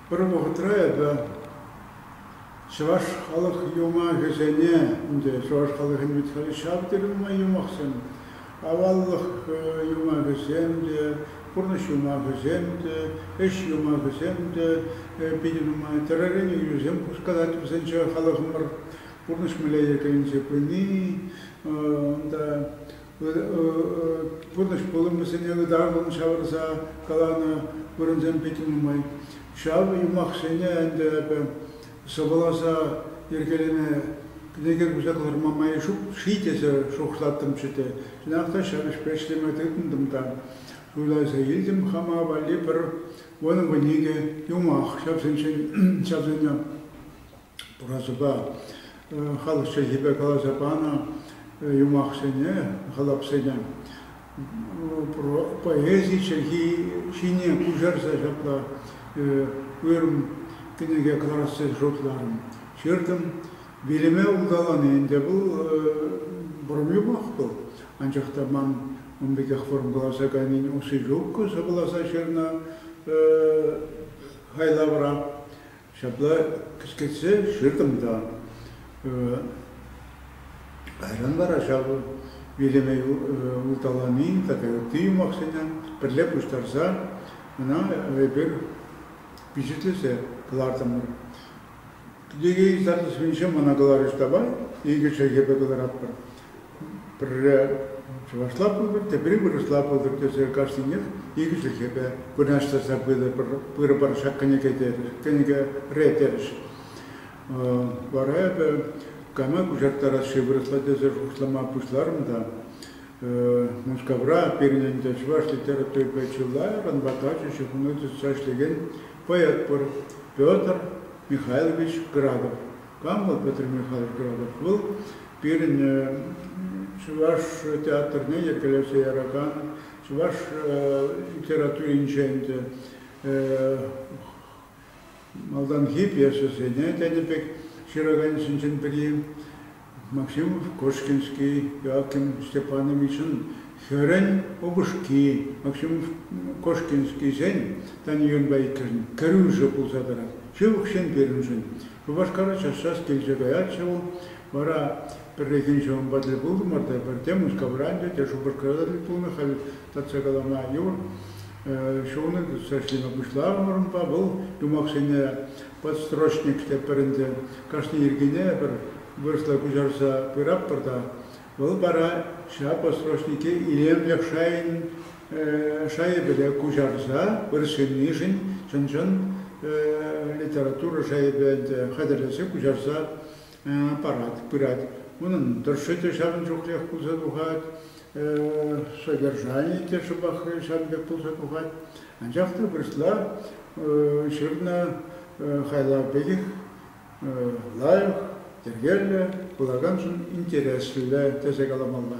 Пӗр вӑхӑтра эпӗ чӑваш халӑх юмахӗсене, ӗнтӗ чӑваш халӑхӗн вит халӗ ҫав тери нумай юмахсем, аваллӑх юмахӗсем те, пурнӑҫ юмахӗсем те, ӗҫ юмахӗсем те питӗ нумай, тӗрӗрен ӳсем хускатать вӗсенче халӑхӑмӑр. пурнӑҫ мелейӗкӗнче пыни, унта пурнӑҫ пулӑмӗсене ытармӑн ҫавӑрса каланӑ вырӑнсем питӗ нумай. Ҫав юмахсене ӗнтӗ эпӗ сӑвӑласа йӗркелеме кӗнеке куҫса кӑларма май ҫук ши тесе шухӑшлаттӑмччӗ те, чӑнах та ҫав ӗҫпе ӗҫлеме тытӑнтӑм та суйласа илтӗм хама валли пӗр вӑн вӑникӗ юмах ҫавсенчен ҫавсене. Пурасупа халӑх чӗлхипе каласа панӑ юмахсене, халапсене поэзи чӗлхи ҫине куҫарса ҫапла уйрӑм кӗнеке кӑларасси шутларӑм. Ҫыртӑм. Вилӗме улталани ӗнтӗ вӑл вӑрӑм юмах вӑл. Анчах та ман ун пекех вӑрӑм каласа кайнин усси ҫук сӑвӑласа ҫырнӑ хайлавра. Ҫапла кӗскетсе ҫыртӑм та кайран вара ҫав вилӗме улталани тата ытти юмахсене пӗрле пуҫтарса ӑна эпир пичетлесе кӑлартӑмӑр. Кӗнеке юсав тӗсӗнче мана каларӗҫ табай, икӗ чӗлхепе кӑларатпӑр. Пӗрре чӑвашла пултӑр, тепре вырӑсла пултӑр тесе кашнинех икӗ чӗлхепе вырнаҫтарса пырӑпӑр ҫак кӗнеке терӗҫ, кӗнекере терӗҫ. Вара эпӗ кама куҫарттарас-ши вырӑсла тесе шухӑшлама пуҫларӑм та Мускавра пирӗн ӗнтӗ чӑваш литературипе чылайӑрӑн ватажӗ ҫыхӑну тытса ӗҫлекен поэт пур Петр Михайлович Градов. Кам вӑл Петр Михайлов Градов? Вӑл пирӗн чӑваш театрне йӗркелесе яракан, чӑваш литературинче ӗнтӗ малтанхи пьесӑсене тенӗ пек ҫыраканӗсенчен пӗри Максим Кошкинский, Иаким Степановичӑн хӗрӗн упӑшки Максим Кошкинскисен Таньюнпа иккӗшӗн кӗрӳшӗ пулса тӑрать. Ҫывӑхҫын пирӗншӗн Шупашкара час-час килсе каятчӗ вӑл. Вара пӗррехин ҫавӑнпа тӗл пултӑмӑр та пӗрте Мускавра ӗнтӗ, те Шупашкарта тӗл пулнӑ, халь татса калама йывӑр. Ҫулне тытса ӗҫлеме пуҫларӑмӑр унпа. Вӑл юмахсене подстрочник тетпӗр ӗнтӗ. Кашни йӗркене пӗр вырӑсла куҫарса пыратпӑр та. Вӑл вара ҫав подстрочнике илемлӗх шайӗн Шайӗпеле куҫарса пыр ҫыннишӗн чӑн-чӑн литература шайӗпе ӗнтӗ хатӗрлесе куҫарса парать, пырать. Унӑн тӑршшӗ те ҫавӑн чухлех пулса тухать, содержанийӗ те шӑпах ҫавӑн пек пулса тухать. Анчах та вырӑсла ҫырнӑ хайлав пекех лайӑх, йӗркеллӗ, вулаканшӑн интереслӗ тесе каламалла.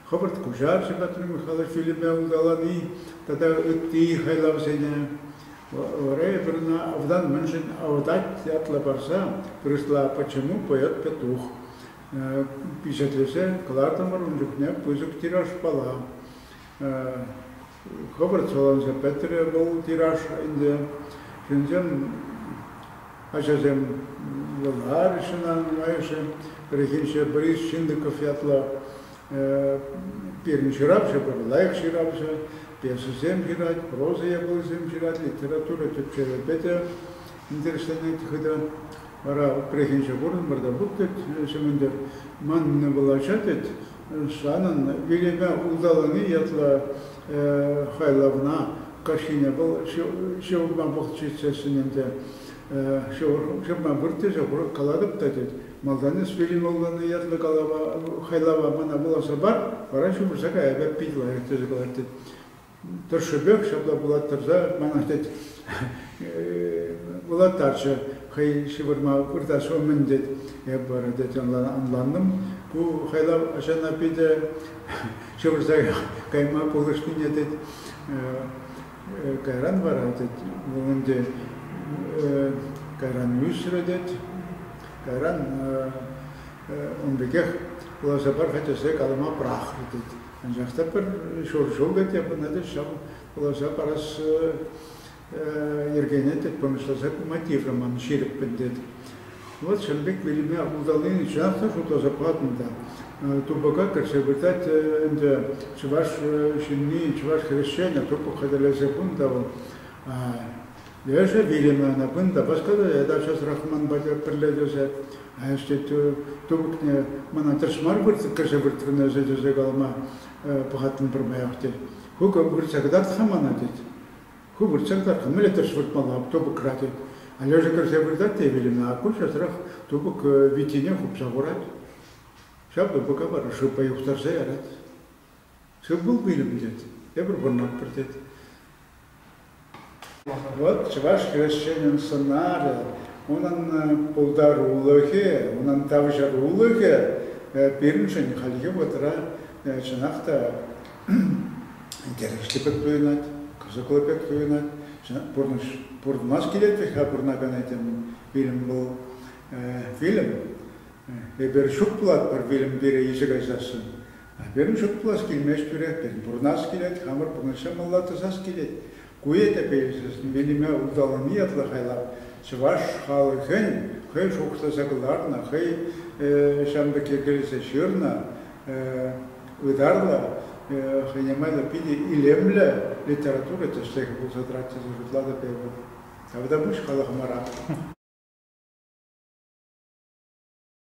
Хӑвӑрт куҫарчӗ Патрик Михайлович фильме улталани тата ытти хайлавсене. Ребрна вӑтан мӗншӗн авӑтать ятлӑ парса вырӑсла Почему поет петух пичетлесе кӑлартӑмӑр ун чухне пысӑк тиражпала. Хӑвӑрт саланса пӗтрӗ вӑл тираж ӗнтӗ. Ҫынсем, ачасем юлмарӗҫ ӑна нумайӑшӗ. Пӗррехинче Борис Чиндыков ятлӑ пирӗн ҫыравҫӑ пур, лайӑх ҫыравҫӑ, пьесӑсем ҫырать, проза япалисем ҫырать, литература тӗпчевӗпе те интересленет хытӑ. Вара прехинче курӑнмӑр та пуп тет ҫӗмӗнтер. Ман вулаҫа тет, санӑн вилӗме улталани ятлӑ хайлавна каҫхине вӑл ҫывӑрма пӑхчиччесsin ӗнтӗ. Ҫывӑрма вырттӗчӗ, курӑк калатӑп та тет. Малтан эс вилӗмаллани ятлӑ калава, хайлава мана вуласа пар, вара ҫывӑрса кая пек пит лайӑх тесе калать тет. тӑршшӗпех ҫапла вулаттарса манах тет вулаттарчӗ хӑй ҫывӑрма выртас умӗн тет эп вара тет ӑнлантӑм ку хайлав ачана питӗ ҫывӑрса кайма пулӑшнине тет кайран вара тет ӗнтӗ кайран ӳсрӗ тет кайран ун пекех вуласа пар-ха тесе калама пӑрахрӗ тет Анчах та пӗр ҫур ҫул ӗнтӗ пынӑ-тӗк ҫав каласа парас йӗркене тӗк пӑнӑҫласа пыма тиврӗ-ман ҫирӗппӗн тетӗп. Вӑт ҫын пек вилӗме улталани чӑнах та шутласа патӑм та. Тупӑка кӗрсе выртать ӗнтӗ чӑваш ҫынни, чӑваш хресченӗ, тупӑк хатӗрлесе хунӑ та вӑл. Лешӗ Вильямовна кун та пӑшкӑрӗ, тавҫӑрсӑрах хӑман патӗ пӗрле тӑчӗ. Институт тупӑкне мана тӗрӗс мар кӗрсе выртрӑннӑ ӗҫе тесе калама пӑхаттӑм пӗрмаях тет. Ку выртса кӑтарт-ха мана тет. Ку выртса кӑтарт, мӗнле тӗрӗс выртмалла тупӑкра тет. А Лешӗ кӗрсе выртать те Вильямовна аккуҫасӑрах тупӑк виттине хупса хурать. Ҫав тупӑка вара шыпа юхтарса ярать. Тыр-пул пилӗк тет, тепӗр вӑрманпӗр тет. Вӑт чӑваш хресченӗн сӑнарӗ, унӑн пултарулӑхӗ, унӑн тавҫӑрулӑхӗ пирӗншӗн хальхи вӑхӑтра чӑнах та интереслӗ пек туйӑнать, кӑсӑклӑ пек туйӑнать. Пурнӑҫ пурӑнмас килет вӗт-ха пурӑнакан этем фильм вӑл. Фильм эпир ҫук пулатпӑр фильм пирӗ ише кайсассӑн. А пирӗн шутлас килмест пире, тен, пурӑнас килет, хамӑр пурнӑҫа малла тӑсас килет. Ку ӗҫе пӗлсен Велиме улталани ятлӑ хайлав чӑваш халӑхӗн хӑй шухӑшласа кӑларнӑ, хӑй ҫавӑн пекки кӗрсе ҫырнӑ ытарлӑ, хӑйне майлӑ питӗ илемлӗ литература тӗслӗхӗ пулса тӑрать тесе шутлатӑп эпӗ. Тавта пуҫ халӑхӑмӑра.